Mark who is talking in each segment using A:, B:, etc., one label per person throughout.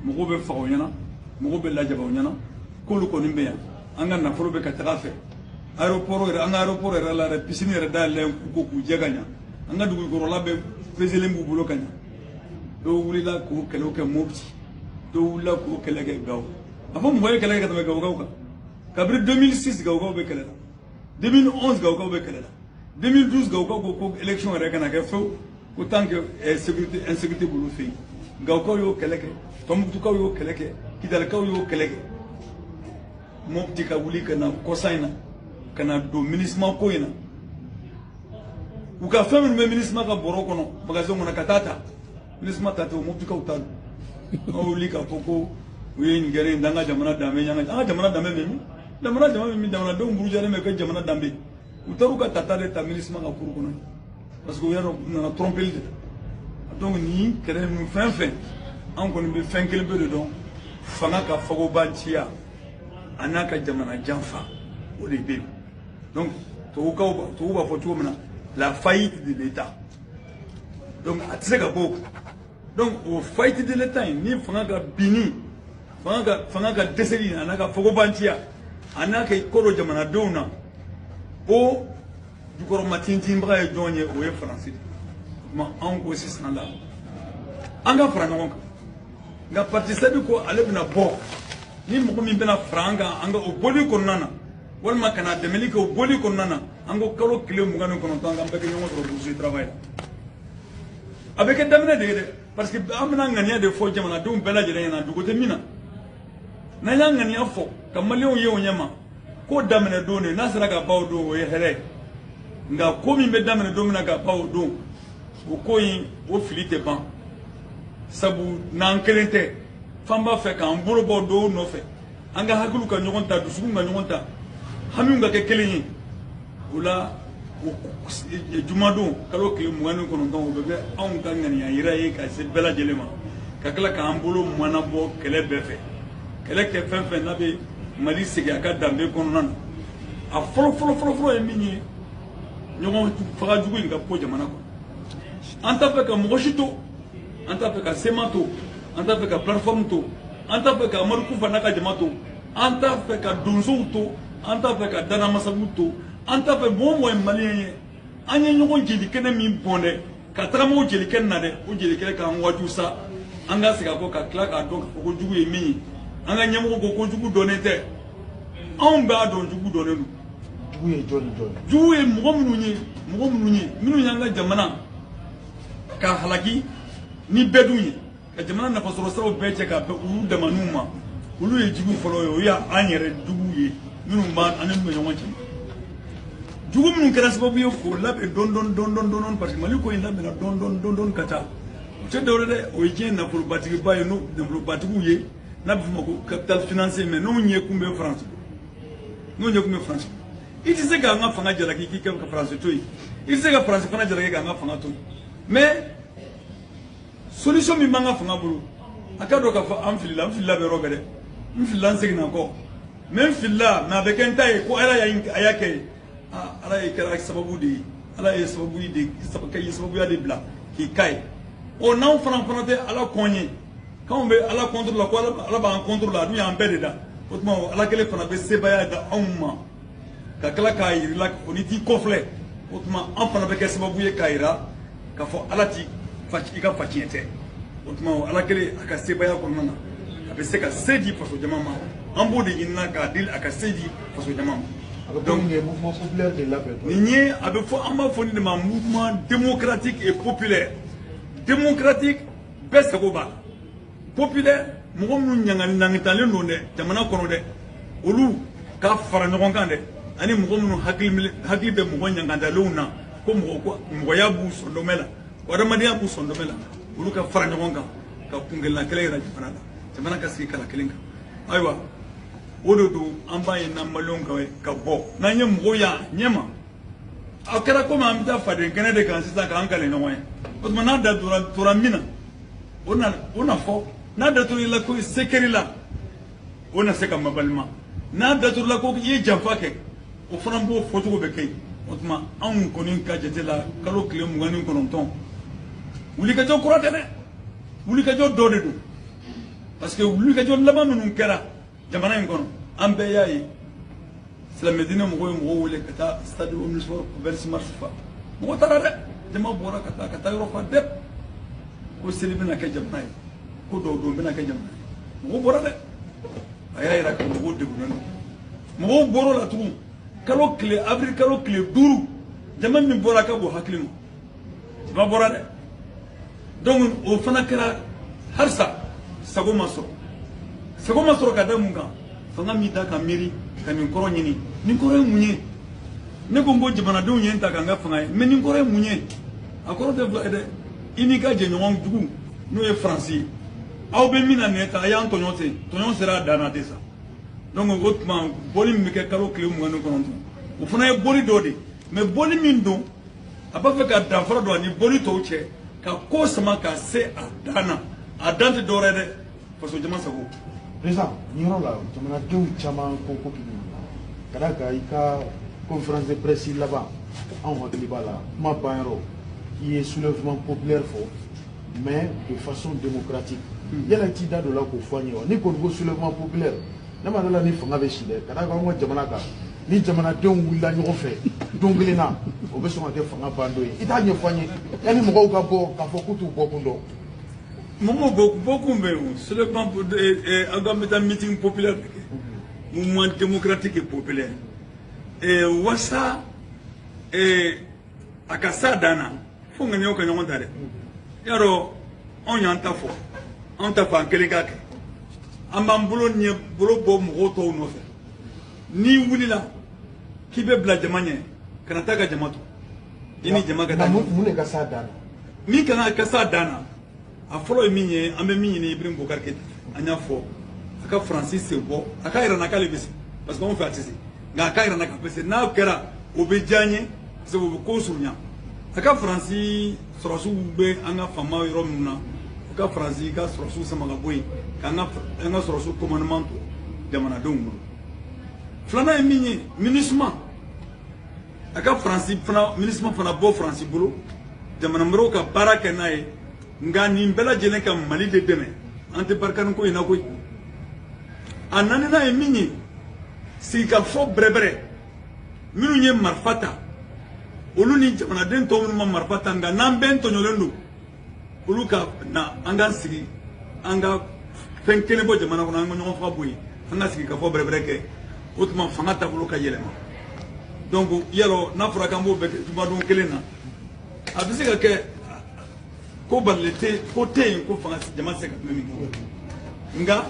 A: mɔgɔw bɛ faga o ɲɛna mɔgɔw bɛ lajaba o ɲɛna k'olu kɔni bɛ yan an ka nafolo bɛ ka taga fɛ aéroport yɛrɛ an ka aéroport yɛrɛ la yɛrɛ piscine yɛrɛ dayɛlɛn k'u ko k'u jɛ ka ɲa an ka dugukɔrɔla bɛɛ peselen b'u bolo ka ɲa dɔw wulila k'o kɛlɛw kɛ mopti dɔw wulila k'o kɛlɛ kɛ gawo a fɔ mɔgɔ ye kɛlɛ kɛ ka tɛmɛ gawokaw kan kabiri 2006 gawokaw bɛ kɛlɛ la 2011 gawokaw bɛ kɛlɛ la 2012 gawokaw ko ko élection yɛrɛ kana kɛ fewu ko tant que eh, sécurité insécurité b'olu fɛ yen gawokaw y'o kɛlɛ kɛ tɔnbukutukaw y'o kɛlɛ kɛ kidalikaw y'o kɛlɛ kɛ mɔpti ka wuli ka na kɔsa in na ka na don minisima ko in na u ka fɛn minnu bɛ minisima ka bɔrɔ kɔnɔ magasin kɔnɔ ka taa ta minisima ta tɛ o mɔptikaw ta don an wuli k'a fɔ ko u ye nin kɛra in da an ka jamana danbe y'an ka an ka jamana danbe bɛ min jamana jama bɛ min jamanadenw burujalen bɛ kɛ jamana danbe u taar'u ka tata de ta minisima ka cour kɔnɔ parce que u y'a dɔn u nana trompeli de la donc nin kɛlɛ ninnu fɛn fɛn an kɔni bɛ fɛn kelen pe de dɔn fanga ka fagobanciya a n'a ka jamana janfa o de bɛ yen donc tubabukaw b'a tubabuw b'a fɔ cogo min na la faillite de l'état donc a tɛ se ka bɔ o kan donc o faillite de l'état in ni fanga ka binni fanga ka fanga ka dɛsɛli a n'a ka fagobanciya a n'a ka i kɔdon jamanadenw na o jukɔrɔma tintinbaga ye jɔn ye o ye faransi de ye o tuma anw ko sisan la an ka fara ɲɔgɔn kan nka parti sadi ko ale bɛna bɔ ni mɔgɔ min bɛna fara an kan an ka o bɔli kɔnɔna na walima ka na dɛmɛli kɛ o bɔli kɔnɔna na an ko kalo tile mugan ni kɔnɔntɔn an k'an bɛɛ kɛ ɲɔgɔn sɔrɔ bourse travail la a bɛ kɛ daminɛ de ye dɛ parce que an bɛna ŋaniya de fɔ jamanadenw bɛɛ lajɛlen ɲɛna dogo tɛ min na n'an y'a ŋaniya fɔ ka maliyɛnw ye o ɲɛma ko daminɛ don de n'a sera ka ban o don o ye hɛrɛ ye nka ko min bɛ daminɛ don min na ka ban o don o ko in o fili tɛ ban sabu n'an kelen tɛ f'an b'a fɛ k'an bolo bɔ dɔw nɔfɛ an ka hakiliw ka ɲɔgɔn ta dusukun ka ɲɔgɔn ta hamiw ka kɛ kelen ye o la jumadon kalo tile mugan ni kɔnɔntɔn o bɛ kɛ anw ka ŋaniya yira ye ka se bɛɛ lajɛlen ma ka tila k'an bolo manabɔ kɛlɛ bɛɛ fɛ kɛlɛ kɛ fɛn fɛn n'a bɛ mali segin a ka danbe kɔnɔna na a fɔlɔ fɔlɔ fɔlɔ fɔlɔ ye min ye ɲɔgɔn faga jugu in ka bɔ jamana kɔnɔ an t'a fɛ ka mɔgɔ si to an t'a fɛ ka cma to an t'a fɛ ka plateforme to an t'a fɛ ka amadu kufa n'a ka jama to an t'a fɛ ka donsow to an t'a fɛ ka dana amasagu to an t'a fɛ mɔgɔ o mɔgɔ ye maliyɛn ye an ye ɲɔgɔn jelikɛnɛ min bɔn dɛ ka tagama o jelikɛnɛ na dɛ o jelikɛnɛ k'an waaju sa an ka segin an kɔ ka tila k'a dɔn k'a fɔ ko jugu ye min ye an ka ɲɛmɔgɔ ko ko jugu dɔnnen tɛ anw b'a dɔn jugu dɔnnen don jugu ye jɔn ni jɔn ye jugu ye mɔgɔ minnu ye mɔgɔ minnu ye minnu y'an ka jamana k'a halaki ni bɛɛ dun ye ka jamana nafasɔrɔsiraw bɛɛ cɛ ka bɛn olu damaniw ma olu ye jugu fɔlɔ ye o ye an yɛrɛ juguw ye minnu b'an ani minnu bɛ ɲɔgɔn cɛ jugu minnu kɛra sababu ye k'o labɛn dɔɔni dɔɔni dɔɔni dɔɔni dɔɔni parce que mali ko in labɛnna dɔɔni dɔɔni dɔɔni dɔɔni ka taa o tɛ dɔwɛrɛ dɛ o ye diɲɛ nafolobatigiba ye n'o nafolobatigiw ye n'a bɛ f'o ma ko capital financier mais n'o ɲɛ kun bɛ faransi n'o ɲɛ kun bɛ faransi i tɛ se k'an ka fanga jalaki k'i kɛ ka faransi to yen i tɛ se ka faransi fana jalaki k'an ka fanga to yen mais solution min b'an ka fanga bolo a ka dɔn k'a fɔ an filila n filila bɛ yɔrɔ bɛɛ dɛ n filila n seginna kɔ mais n filila mais a bɛ kɛ n ta ye ko ala y'a a y'a kɛ ye ala ye kɛra sababu de ye ala ye sababu de ka ye sababuya de bila k'i ka ye ɔ n'anw fana fana tɛ ala kɔn ye k'anw bɛ ala contre la ko ala b'an contre la a dun y'an bɛɛ de da o tuma ala kelen fana bɛ sebaaya d'anw ma ka tila k'a yir'i la o n'i t'i kɔfilɛ o tuma an fana bɛ kɛ sababu ye k'a yira k'a fɔ ala t'i ka faciɲɛ tɛ o tuma o ala kelen a ka sebaaya kɔnɔna na a bɛ se ka se di faso jama ma an b'o de ɲinina k'a deli a ka se di faso jama ma donc nin ye a bɛ fɔ an b'a fɔ nin de ma mouvement démocratique et populaire démocratique bɛɛ sago b'a la populaire mɔgɔ minnu ɲangatalen don dɛ jamana kɔnɔ dɛ olu ka fara ɲɔgɔn kan dɛ ani mɔgɔ minnu hakili bɛ mɔgɔ ɲangatalenw na ko mɔgɔya b'u sɔndɔmɛ la ko adamadenya b'u sɔndɔmɛ la olu ka fara ɲɔgɔn kan ka kuntilenna kelen yira jamana la jamana ka sigi kala kelen kan ayiwa o de don an b'a ye n'an maliyɛnw ka ka bɔ n'an ye mɔgɔw y'a ɲɛma a kɛra komi an bɛ taa faden kɛnɛ de kan sisan k'an kale ɲɔgɔn ye o tuma n'a da tora min na o na o n'a fɔ n'a daturula ko se kɛr'i la o na se ka mabalima n'a daturula ko i ye janfa kɛ o fana b'o fɔcogo bɛ kɛ yen o tuma anw kɔni ka jate la kalo tile mugan ni kɔnɔntɔn wulikajɔ kura tɛ dɛ wulikajɔ dɔ de don parce que wulikajɔ laban minnu kɛra jamana in kɔnɔ an bɛɛ y'a ye silamɛdinɛ mɔgɔw ye mɔgɔw wele ka taa stade omnisport vingt-six mars fa mɔgɔ taara dɛ jama bɔra ka taa ka taa yɔrɔ fa dɛ ko seli bɛna kɛ jamana ye ko duwawu don bɛna kɛ jamana ye mɔgɔw bɔra dɛ a y'a yira ko mɔgɔw degunnen don mɔgɔw bɔr'o la tugun kalo tile avril kalo tile duuru jama min bɔra ka bon hakili ma dɔ bɔra dɛ donc o fana kɛra halisa sago ma sɔrɔ sago ma sɔrɔ ka da mun kan fanga m'i da ka miiri ka nin kɔrɔ ɲini nin kɔrɔ ye mun ye ne ko n ko jamanadenw ye n ta ka n kɛ fanga ye mais nin kɔrɔ ye mun ye a kɔrɔ tɛ fila ye dɛ i n'i ka jɛɲɔgɔn jugu n'o ye faransi ye aw bɛ min na nin ye tan a y'an tɔɲɔ ten tɔɲɔ sera a dan na ten sa donc o tuma bɔli min bɛ kɛ kalo tile mugan ni kɔnɔntɔn o fana ye bɔli dɔ de ye mais bɔli min don a b'a fɛ ka danfara don a ni bɔli tɔw cɛ ka ko sama ka se a dan na a dan tɛ dɔwɛrɛ dɛ faso jama sago président nin
B: yɔrɔ la jamanadenw caman ko ko k'i ka da kan i ka conférence de presse laban anw hakili b'a la kuma banyɔrɔ i ye soulèvement populaire fɔ mais de façon démocratique yala i t'i da don la k'o fɔ an ye wa n'i kɔni ko soulèvement populaire ne ma da a la ni fanga bɛ si dɛ ka da kan an ka jamana kan ni jamanadenw wulila ɲɔgɔn fɛ don kelen na o bɛ sɔn ka kɛ fanga bandon ye i t'a ɲɛfɔ an ye yanni mɔgɔw ka bɔ k'a fɔ k'u t'u bɔkun dɔn
A: mɔgɔw bɔ bɔkun bɛ yen seulement aw ka bɛ taa meeting populaire de kɛ mouvement démocratique et populaire wasa a ka s'a dan na fo ŋaniyaw ka ɲɔgɔn ta dɛ y'a dɔn anw y'an ta fɔ anw t'a fɔ an kelen k'a kɛ an b'an bolo ɲɛ bolo bɔ mɔgɔ tɔw nɔfɛ n'i wulila k'i bɛ bila jama ɲɛ kana taa ka jama to i ni jama ka taa mun de ka s'a dan na
B: min ka kan ka s'a
A: dan na a fɔlɔ ye min ye an bɛ min ɲini Ibrahim Boubacar Keïta an y'a fɔ a ka faransi sen bɔ a k'a yira an na k'ale bɛ se parce que anw fɛ a tɛ se nka a k'a yira an na k'a bɛ se n'a kɛra o bɛ diya an ye parce que o bɛ ko surunya a ka faransi sɔrɔsiw bɛ an ka FAMa yɔrɔ minnu na u ka faransi ka sɔrɔsiw sama ka bɔ yen k'an ka sɔrɔsiw commandement to jamanadenw bolo filanan ye min ye MINUSMA a ka faransi fana MINUSMA fana bɔ faransi bolo jamana wɛrɛw ka baara kɛ n'a ye nka nin bɛɛ lajɛlen ka mali de dɛmɛ an tɛ Barkhane ko in na koyi a naaninan ye min ye sigikafɔ bɛrɛbɛrɛ minnu ye marifa ta olu ni jamanaden tɔw minnu ma marifa ta nka n'an bɛɛ tɔɲɔlen don olu ka na an k'an sigi an ka fɛn kelen bɔ jamana kɔnɔ an ka ɲɔgɔn faga bɔ yen an ka sigikafɔ bɛrɛbɛrɛ kɛ o tuma fanga taabolo ka yɛlɛma donc yalɔ n'a fɔra k'an b'o bɛɛ kɛ jumadon kelen na a bɛ se ka kɛ ko balilen tɛ ko tɛ yen ko fanga jama tɛ se ka tɛmɛ min kan nka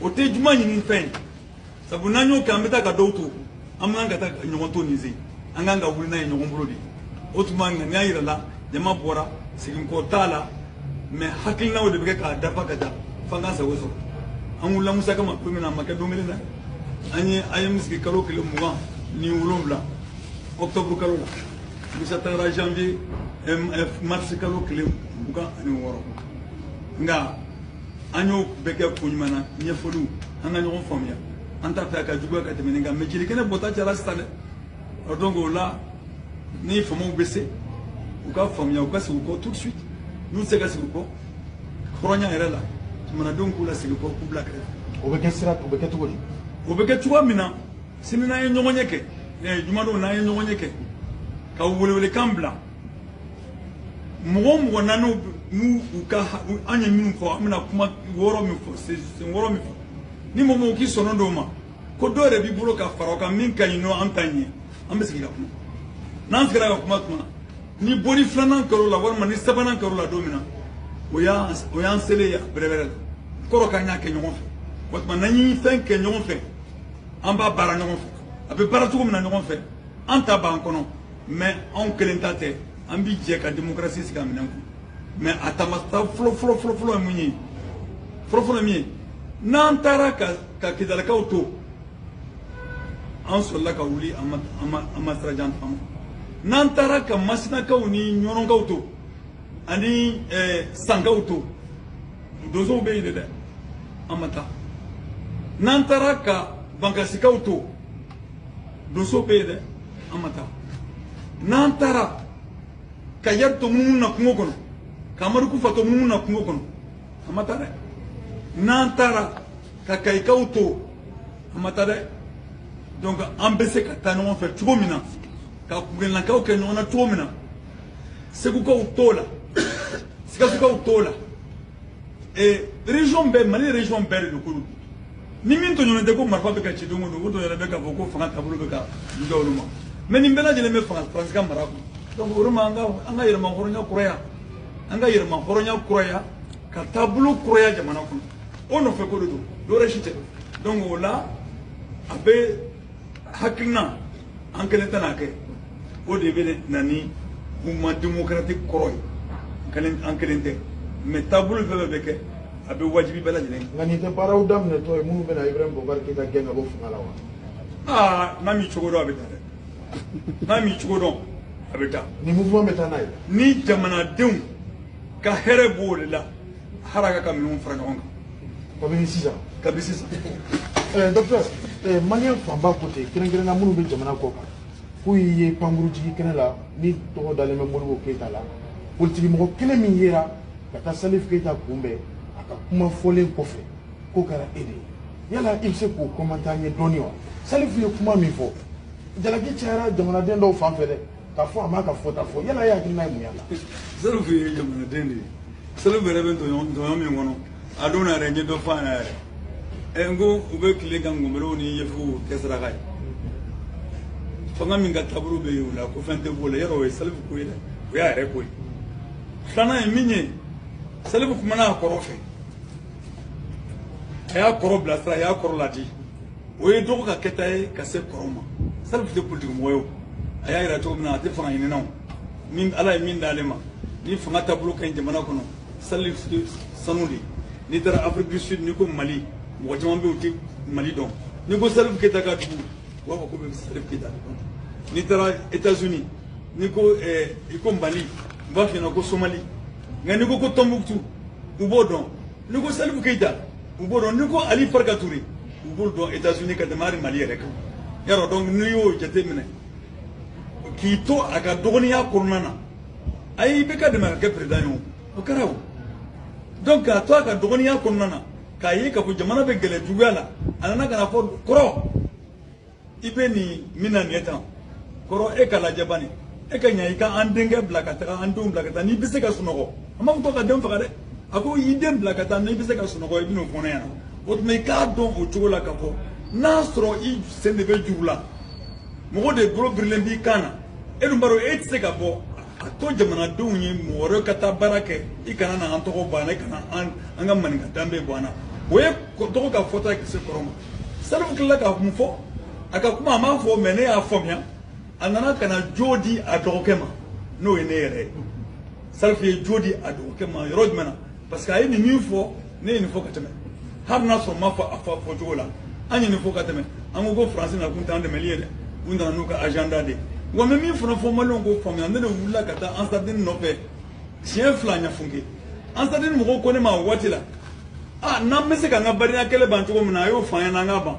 A: o tɛ juma ɲini fɛn ye sabu n'an y'o kɛ an bɛ taa ka dɔw to an man kan ka taa ɲɔgɔn to nin sen an kan ka wuli n'a ye ɲɔgɔn bolo de o tuma ŋaniya yirala jama bɔra seginkɔ t'a la mais hakilinaw de bɛ kɛ k'a dafa ka taa f'an ka sago sɔrɔ an wulila Musa kama don min na a ma kɛ don kelen na an y'an sigi kalo tile mugan ni wolonwula octobre kalo la Musa taara janvier mars kalo tile mugan ani wɔɔrɔ nka an y'o bɛɛ kɛ ko ɲuman na ɲɛfɔliw an ka ɲɔgɔn faamuya an t'a fɛ a ka juguya ka tɛmɛ nin kan mais jelikɛnɛ bɔta cayala sisan dɛ ɔ donc o la ni faamaw bɛ se u ka faamuya u ka segin u kɔ tout de suite n'u tɛ se ka segin u kɔ hɔrɔnya yɛrɛ la jamanadenw k'u lasegin kɔ k'u bila kɛrɛfɛ o bɛ kɛ sira o bɛ
B: kɛ cogo di o bɛ kɛ cogoya min
A: na sini n'an ye ɲɔgɔnye kɛ jumadon n'an ye ɲɔgɔnye kɛ ka welewelekan bila mɔgɔ mɔgɔ na n'u n'u ka an ye minnu fɔ an bɛna kuma wɔɔrɔ min fɔ sen wɔɔrɔ min fɔ ni mɔgɔ mɔgɔ k'i sɔnna dɔw ma ko dɔw yɛrɛ b'i bolo ka fara o kan min ka ɲi ni an ta ye an bɛ sigi ka kuma n'an sigira ka kuma tuma ni bɔli filanan kɛr'o la walima ni sabanan kɛr'o la don min na o y'an o y'an selen ye bɛrɛbɛrɛ la kɔrɔ k'an y'a kɛ ɲɔgɔn fɛ o tuma n'an ye fɛn kɛ ɲɔgɔn fɛ an b'a baara ɲɔgɔn fɛ a bɛ baara cogo min na ɲɔgɔn fɛ an ta b'an kɔnɔ mais anw kelen ta tɛ an bi jɛ ka démocratie sigi a minɛn kun mais a taamata fɔlɔ fɔlɔ fɔlɔ fɔlɔ ye mun ye fɔlɔ fɔlɔ min ye n'an taara ka ka kidalikaw to an sɔrɔla ka wuli an ma an ma an ma sira jan taama n'an taara ka masinakaw ni ɲɔnɔnkaw to ani eh, sankaw to donsow bɛ yen de dɛ an ma taa n'an taara ka bankasikaw to donso bɛ yen dɛ an ma taa n'an taara ka iyadi to munumunu na kungo kɔnɔ ka amadu kufa to munumunu na kungo kɔnɔ an ma taa dɛ n'an taara ka kayikaw to an ma taa dɛ donc an bɛ se ka taa ɲɔgɔn fɛ cogo min na ka kungelenlakaw kɛ ɲɔgɔn na cogo min na segukaw t'o la sikasokaw t'o la ee région bɛɛ mali région bɛɛ de don k'olu ni min tɔɲɔnen tɛ ko marifa bɛ ka ci don o don o tɔɲɔnen bɛ k'a fɔ ko fanga taabolo bɛ ka juguya olu ma mais nin bɛɛ lajɛlen bɛ fanga faransi ka mara kɔnɔ donc o de ma an ka an ka yɛrɛmahɔrɔnya kuraya an ka yɛrɛmahɔrɔnya kuraya ka taabolo kuraya jamana kɔnɔ o nɔfɛ ko de don dɔwɛrɛ si tɛ donc o la a bɛ hakilina an kelen tɛn'a kɛ o de bɛ na ni mouvement démocratique kɔrɔ ye kelen an kelen tɛ mais taabolo fɛn fɛn bɛ kɛ a bɛ wajibi bɛɛ lajɛlen kan nka nin tɛ baaraw daminɛtɔ
B: ye minnu bɛna ibrahim bubakari keyita gɛn ka bɔ fanga la wa aa
A: n'a m'i cogo dɔn a bɛ taa dɛ n'a m'i cogo dɔn a bɛ taa nin mouvement bɛ taa
B: n'a ye ni jamanadenw
A: ka hɛrɛ b'o de la haraka ka minɛnw fara ɲɔgɔn kan kabini
B: sisan kabini sisan ɛɛ docteur ɛɛ maliyɛn fanba ko ten kɛrɛnkɛrɛnna minnu bɛ jamana kɔ kan k'u y'e ye pankurunjigikɛnɛ la ni tɔgɔ dalen bɛ modibo keyita la politikimɔgɔ kelen min yera ka taa salif keyita kunbɛn a ka kuma fɔlen kɔfɛ k'o kɛra e de ye yala i bɛ se k'o commenter an ye dɔɔni wa salif ye kuma min fɔ jalaki cayara jamanaden dɔw fan fɛ dɛ ka fɔ a m'a ka fɔta fɔ yala ye hakilina ye mun
A: y'a la salifu ye jamanaden de ye salifu yɛrɛ bɛ tɔɲɔ min kɔnɔ a don na yɛrɛ n ye dɔ fɔ a ɲɛna yɛrɛ ɛ n ko u bɛ tila ka ngɔnbɛrɛw ni yefuw kɛ saraka ye fanga min ka taabolo bɛ yen o la ko fɛn tɛ b'o la yarɔ o ye salifu ko ye dɛ o y'a yɛrɛ ko ye filanan ye min ye salifu kumana a kɔrɔ fɛ a y'a kɔrɔ bilasira a y'a kɔrɔ ladi o ye dɔgɔ ka kɛta ye ka se kɔrɔw ma salifu tɛ politikimɔgɔ ye a y'a yira cogo min na a tɛ fanga ɲininaw ni ala ye min d'ale ma ni fanga taabolo ka ɲi jamana kɔnɔ salifu ye sanu de n'i taara afiriki du sud n'i ko mali mɔgɔ caman bɛ yen u tɛ mali dɔn n'i ko salifu keyita ka dugu u b'a fɔ k'u bɛ salifu keyita de dɔn n'i taara etats unis n'i ko i ko mali u b'a f'i ɲɛna ko somali nka n'i ko ko tɔnbukutu u b'o dɔn n'i ko salifu keyita u b'o dɔn n'i ko ali farika ture u b'olu dɔn etats-unis ka tɛmɛ hali mali yɛrɛ kan yarɔ donc n'i y'o jate minɛ k'i to a ka dɔgɔninya kɔnɔna na a ye ibk dɛmɛ k'a kɛ perezidan ye o kɛra o donc k'a to a ka dɔgɔninya kɔnɔna na k'a ye k'a fɔ jamana bɛ gɛlɛ juguya la a nana ka n'a fɔ kɔrɔ i bɛ nin min na nin ye tan kɔrɔ e k'a lajɛ bani e ka ɲa i ka an denkɛ bila ka taga an denw bila ka taa n'i bɛ se ka sunɔgɔ a m'a fɔ ko k'a den faga dɛ a ko i den bila ka taa n'i bɛ se ka sunɔgɔ i bɛn'o fɔ ne ɲɛna o tuma i k'a dɔn o cogo la k'a fɔ n'a sɔrɔ i sen de bɛ juru la mɔgɔ de bolo birilen b'i kan na e dun b'a dɔn e tɛ se ka bɔ a to jamanadenw ye mɔgɔ wɛrɛ ka taa baara kɛ i kana na an tɔgɔ bɔ an na i kana an ka maninka danbe bɔ an na o ye dɔgɔ ka fɔta ye ka se kɔrɔ ma Salifu tilala ka mun fɔ a ka kuma a m'a fɔ mais ne y'a faamuya a nana ka na jo di a dɔgɔkɛ ma n'o ye ne yɛrɛ ye salifu ye jo di a dɔgɔkɛ ma yɔrɔ jumɛn na parce que a ye nin min fɔ ne ye nin fɔ ka tɛmɛ hali n'a sɔrɔ n m'a fɔ a fɔ fɔ cogo la an ye nin fɔ ka tɛmɛ an ko ko faransi nakun t'an dɛmɛli ye dɛ u nana n'u ka agenda de ye wa n bɛ min fana fɔ maliyɛnw k'o faamuya ne de wulila ka taa ansadini nɔfɛ siɲɛ fila ɲafunke ansadini mɔgɔw ko ne ma o waati la a n'an bɛ se k'an ka badenya kɛlɛ ban cogo min na a y'o fɔ an ɲɛna an k'a ban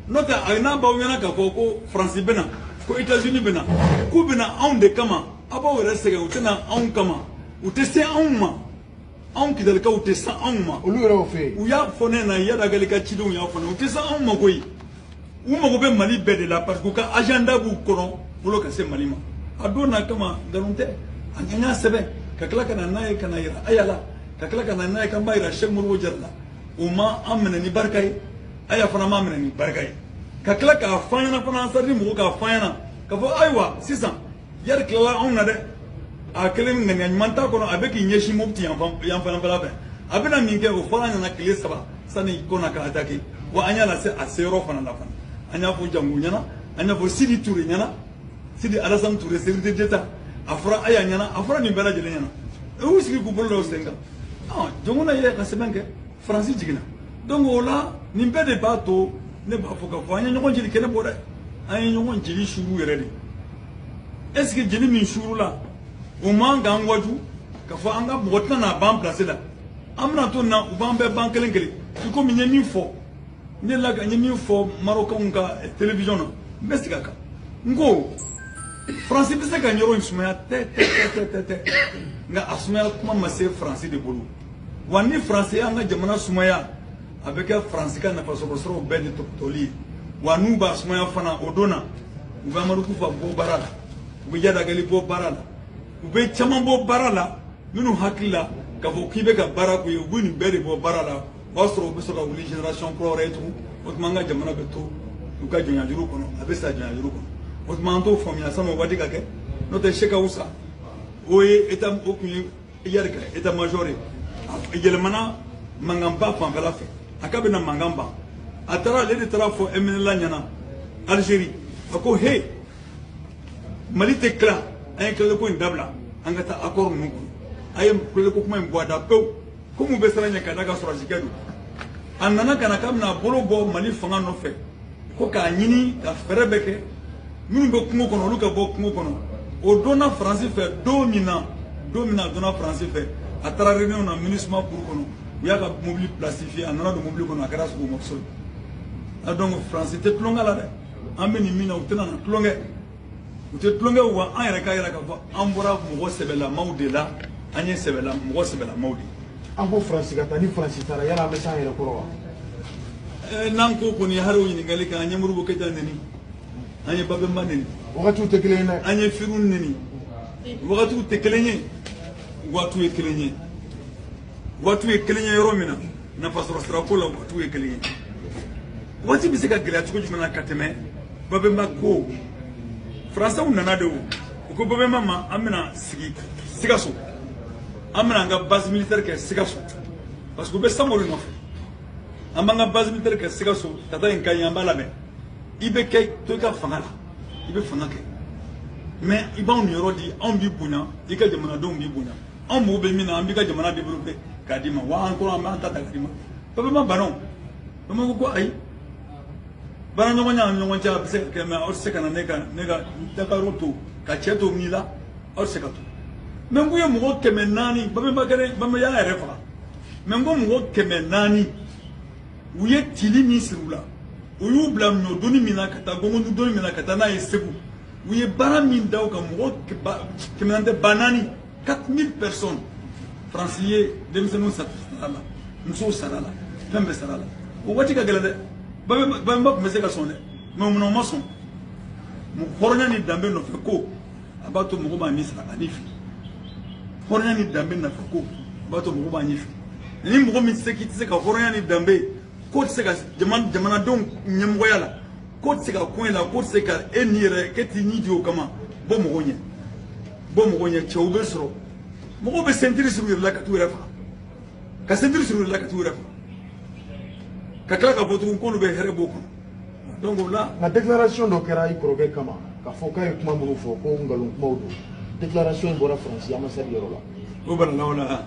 A: n'o tɛ a n'a b'aw ɲɛna k'a fɔ ko faransi bɛna ko etazini bɛna k'u bɛna anw de kama a b'aw yɛrɛ sɛgɛn u tɛna anw kama u tɛ se anw ma anw kidalikaw u tɛ se anw ma olu yɛrɛ y'o fɔ yen u y'a
B: fɔ ne ɲɛna
A: iyad ag ghali ka cidenw y'a fɔ ne u tɛ se anw ma koyi u mago bɛ mali bɛɛ de la parce que u ka agenda b'u kɔnɔ bolo ka se mali ma a dɔn ala kama nkalon tɛ an y'a sɛbɛn ka tila ka na n'a ye ka n'a yira aya la ka tila ka na n'a ye ka n'a yira sɛk modibo jara la o ma an minɛ ni barika ye aya fana ma minɛ ni barika ye ka tila k'a fɔ an ɲɛna fana ansadini mɔgɔ k'a fɔ an ɲɛna k'a fɔ ayiwa sisan iyadi tilala anw na dɛ a kelen ŋaniya ɲuman t'a kɔnɔ a bɛ k'i ɲɛsin mopti yanfanfɛla fɛ a bɛna min kɛ o fɔra ɲɛna tile saba sani kɔna ka atake wa an y'a lase a seyɔrɔ fana la fana an y'a fɔ jango ɲɛna an y'a fɔ sidi ture ɲɛna sidi alasani ture sécurité d'état a fɔra aya ɲɛna a fɔra nin bɛɛ lajɛlen ɲɛna u y'u sigi k'u bolo da u sen kan jɔnkunda ye ka sɛbɛn kɛ faransi jiginna donc o la nin bɛɛ de b'a to ne b'a fɔ k'a fɔ an ye ɲɔgɔn jeli kɛnɛ bɔ dɛ an ye ɲɔgɔn jeli suuru yɛrɛ de est ce que jeli min suurula o man k'an waaju k'a fɔ an ka mɔgɔ tɛna n'a ban place la an bɛna to nin na u b'an bɛɛ ban kelen kelen i komi n ye min fɔ ne la ka n ye min fɔ marokɛnw ka télévision na n bɛ segin a kan n ko faransi bɛ se ka nin yɔrɔ in sumaya tɛ tɛ tɛ tɛ tɛ nka a sumaya kuma ma se faransi de bolo wa ni faransi y'an ka jamana sumaya a bɛ kɛ faransi ka nafasɔrɔsiraw bɛɛ de tɔpɔtɔli ye wa n'u b'a sumaya fana o don na u bɛ amadu kufa bɔ baara la u bɛ iyadi agali bɔ baara la u bɛ caman bɔ baara la minnu hakili la k'a fɔ k'i bɛ ka baara k'u ye u bɛ nin bɛɛ de bɔ baara la o b'a sɔrɔ u bɛ sɔrɔ ka wuli génération kura wɛrɛ ye tugun o tuma an ka jamana bɛ to u ka jɔnyajuru kɔnɔ a bɛ sa jɔnyajuru kɔnɔ o tuma an t'o faamuya san'o waati ka kɛ n'o tɛ sɛki awusa o ye état o tun ye iyadi ka état major yɛlɛmana mankan ban fanfɛla fɛ a k'a bɛna mankan ban a taara ale de taara a fɔ ɛmɛnɛla ɲɛna algérie a ko he mali tɛ tila an ye tilaleko in dabila an ka taa accord ninnu kɔnɔ a ye tilaleko kuma in bɔ a da pewu komi u bɛ siran a ɲɛ ka d'a kan sɔrɔdasikɛ don a nana ka na k'a bɛna a bolo bɔ mali fanga nɔfɛ ko k'a ɲini ka fɛɛrɛ bɛɛ kɛ minnu bɛ kungo kɔnɔ olu ka bɔ kungo kɔnɔ o dɔnna faransi fɛ don min na don min na a dɔnna faransi fɛ a taara réunion na minusima cour kɔnɔ u y'a ka mobili plastifié a nana don mobili kɔnɔ a kɛra sogo morceau ye donc faransi tɛ tulonkɛ la dɛ an bɛ nin min na u tɛna na tulonkɛ u tɛ tulonkɛ wa an yɛrɛ k'a yira k'a fɔ an bɔra mɔgɔ sɛbɛlamaw de la an ye sɛbɛla mɔgɔ sɛbɛlamaw de an ko faransi ka
B: taa ni faransi taara yala an bɛ s'an yɛrɛ kɔrɔ wa n'an ko kɔni
A: hali o ɲininkali kɛ an ye modibo keyita neni an ye babɛnba neni wagatiw tɛ kelen ye
B: dɛ an ye firun
A: neni wagatiw tɛ kelen ye waatiw ye kelen ye waatiw ye kelen ye yɔrɔ min na nafasɔrɔ sirako la waatiw ye kelen ye waati bɛ se ka gɛlɛya cogo jumɛn na ka tɛmɛ babɛnba ko faransɛw nana de o u ko babɛnba ma an bɛna sigi sikaso an bɛna an ka base militaire kɛ sikaso parce que u bɛ samori nɔfɛ an b'an ka base militaire kɛ sikaso tata in ka ɲi an b'a labɛn i bɛ kɛ to i ka fanga la i bɛ fanga kɛ mɛ i b'anw niyɔrɔ di anw b'i bonya i ka jamanadenw b'i bonya anw mago bɛ min na an b'i ka jamana développé k'a d'i ma wa an kɔrɔ an b'an ta ta k'a d'i ma babemba banna babemba ko ko ayi baaraɲɔgɔnya an ɲɔgɔn cɛ a bɛ se ka kɛ mɛ aw tɛ se ka na ne ka ne ka dakaro to ka cɛ to min la aw tɛ se ka to mɛ n ko ye mɔgɔ kɛmɛ naani babemba k'a yɛrɛ babemba y'a yɛrɛ faga mɛ n ko mɔgɔ kɛmɛ naani u ye tili min siri u la o y'u bila ɲɔ doni min na ka taa gɔngɔndu doni min na ka taa n'a ye segu u ye baara min da u kan mɔgɔ kɛmɛ naani tɛ ba naani 4000 personnes faransi ye denmisɛnninw sara a la musow sara a la fɛn bɛɛ sara a la o waati ka gɛlɛn dɛ babemba tun bɛ se ka sɔn dɛ mɛ munna u ma sɔn hɔrɔnya ni danbe nɔfɛ ko a b'a to mɔgɔ b'a ɲɛ sira a ni fili hɔrɔnya ni danbe nɔfɛ ko a b'a to mɔgɔ b'a ni fili ni mɔgɔ min se k'i tɛ se ka hɔrɔnya ni danbe k'o tɛ se ka jamanadenw ɲɛmɔgɔya la k'o tɛ se ka ko in la k'o tɛ se ka e ni yɛrɛ k'e t'i ni di o kama bɔ mɔgɔ ɲɛ bɔ mɔgɔ ɲɛ cɛw bɛ sɔrɔ mɔgɔw bɛ sentiri siri u yɛrɛ la ka t'u yɛrɛ faga ka sentiri siri u yɛrɛ la ka t'u yɛrɛ faga ka tila k'a fɔ tugun k'olu bɛ hɛrɛ b'o kɔnɔ donc o la nka déclaration dɔ
B: kɛra i kɔrɔkɛ kama k'a fɔ k'a ye kuma minnu fɔ ko nkalon kumaw don déclaration in bɔra faransi ambassade yɔrɔ la o balala o la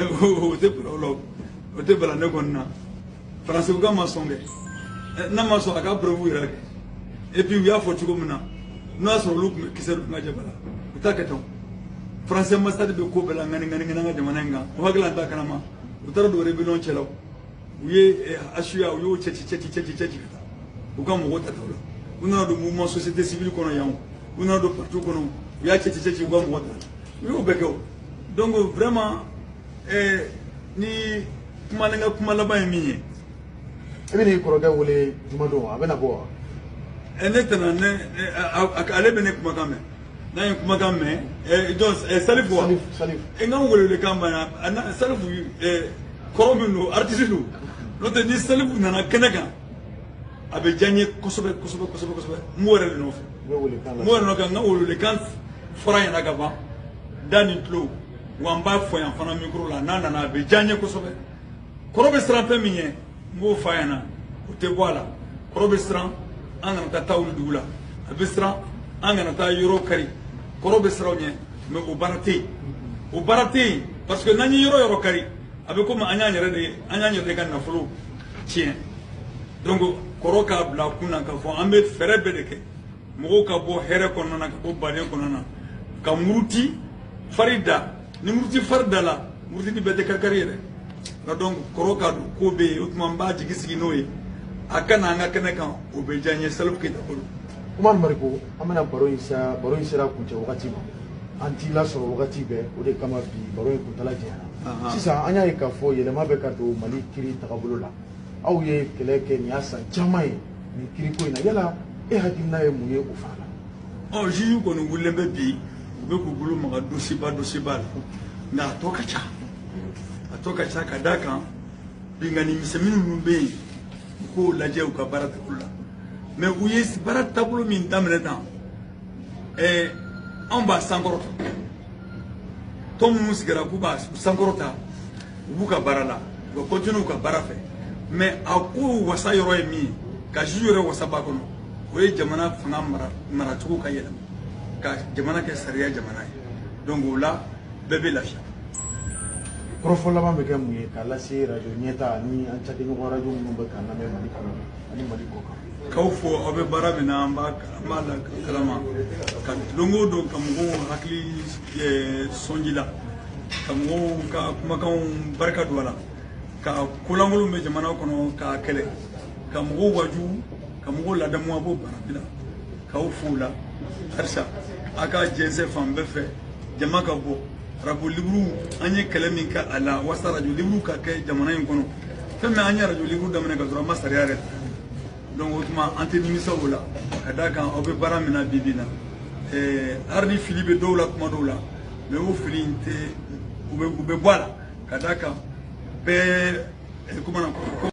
A: o tɛ bala o la o tɛ bala ne kɔni na faransi k'a ma sɔn kɛ n'a ma sɔn a ka preuve yira kɛ et puis u y'a fɔ cogo min na n'o y'a sɔrɔ olu tun bɛ kisɛ dun ka jɛ bala u t'a kɛ tan faransi ambassade bɛ ko bɛɛ la ŋani ŋani ŋani an ka jamana in kan o hakili la an t'a kalama u taara don rebellion cɛla o u ye HCUA eh, u y'o cɛci cɛci cɛci cɛci ka taa u ka mɔgɔw tata o la u nana don mouvement société civile kɔnɔ yan o u nana don parti kɔnɔ u y'a cɛci cɛci u ka mɔgɔ ta u y'o bɛɛ kɛ o donc vraiment eh, ni kuma ne ka kuma laban ye min ye i
B: bɛ n'i kɔrɔkɛ wele juma don a bɛna bɔ wa eh, ne
A: tɛna ne eh, ale bɛ ne kumakan mɛn n'a ye kumakan mɛn salifu wa n
B: ka
A: welewelekan banna salifu kɔrɔ min don aritisi don n'o tɛ ni salifu nana kɛnɛ kan a bɛ diya n ye kosɛbɛ kosɛbɛ kosɛbɛ kosɛbɛ n b'o yɛrɛ de nɔfɛ n b'o yɛrɛ nɔfɛ n ka welewelekan fɔr'a ɲɛna ka ban da ni tulo wa n b'a fɔ yan fana mikoro la n'a nana a bɛ diya n ye kosɛbɛ kɔrɔ bɛ siran fɛn min ɲɛ n b'o f'a ɲɛna o tɛ bɔ a la kɔrɔ bɛ siran an kana taa ta wuli dugu la a bɛ siran an kana taa yɔrɔ kari kɔrɔ bɛ siran o ɲɛ mɛ o baara tɛ yen o baara tɛ yen parce que n'an ye yɔrɔ yɔrɔ kari a bɛ komi an y'an yɛrɛ de an y'an yɛrɛ de ka nafolo tiɲɛ donc kɔrɔ k'a bila a kun na k'a fɔ an bɛ fɛɛrɛ bɛɛ de kɛ mɔgɔw ka bɔ hɛrɛ kɔnɔna na ka bɔ baden kɔnɔna na ka muruti fari da ni muruti fari da la murutini bɛɛ tɛ karikari ye dɛ nka donc kɔrɔ ka don ko bɛ yen o tuma n b'a jigi sigi n'o ye a ka na an ka kɛnɛ kan o bɛ diya n ye salifu keyita bolo umari mariko
B: an bɛna baro in sa baro in sera kuncɛ wagati ma an t'i lasɔrɔ wagati bɛɛ o de kama bi baro in kuntala janyana sisan an y'a ye k'a fɔ yɛlɛma bɛ ka don mali kiri tagabolo la aw ye kɛlɛ kɛ nin y'a san caman ye nin kiriko in na yala e hakilina ye mun ye o fana la ɔ juge kɔni
A: wulilen bɛ bi u bɛ k'u bolo maga dosiba dosiba la nka a tɔ ka ca a tɔ ka ca ka d'a kan binkanni misɛnnin minnu bɛ yen u k'o lajɛ u ka baara taabolo la mɛ u ye baara taabolo min daminɛ tan ɛɛ anw b'a sankɔrɔta tɔn minnu sigira k'u b'a sankɔrɔta u b'u ka baara la u ka kɔntine u ka baara fɛ mɛ a ko wasa yɔrɔ ye min ye ka juge yɛrɛ wasa b'a kɔnɔ o ye jamana fanga mara maracogo ka yɛlɛma ka jamana kɛ sariya jamana ye donc o la bɛɛ bɛ
B: lafiya kɔrɔfɔ laban bɛ kɛ mun ye k'a lase rajo ɲɛtaa ni an cakɛɲɔgɔn rajo minnu bɛ k'an lamɛn mali kɔnɔ ani mali kɔ kan k'aw fo aw
A: bɛ baara min na an b'a an b'a la kalama ka don o don ka mɔgɔw hakili sɔn ji la ka mɔgɔw ka kumakanw barika don a la ka ko lankolon bɛ jamana kɔnɔ k'a kɛlɛ ka mɔgɔw waju ka mɔgɔw ladamu a b'o baara bɛɛ la k'aw fo o la halisa a ka jɛnsɛn fan bɛɛ fɛ jama ka bɔ arajo liburu an ye kɛlɛ min kɛ a la walasa arajo liburu ka kɛ jamana in kɔnɔ fɛn min an ye arajo liburu daminɛ ka sɔrɔ an ma sariya yɛrɛ donc o tuma an tɛ nimisa o la ka d'a kan aw bɛ baara min na bi bi in na hali ni fili bɛ dɔw la kuma dɔw la mɛ o fili in tɛ u bɛ bɔ a la ka d'a kan bɛɛ kumana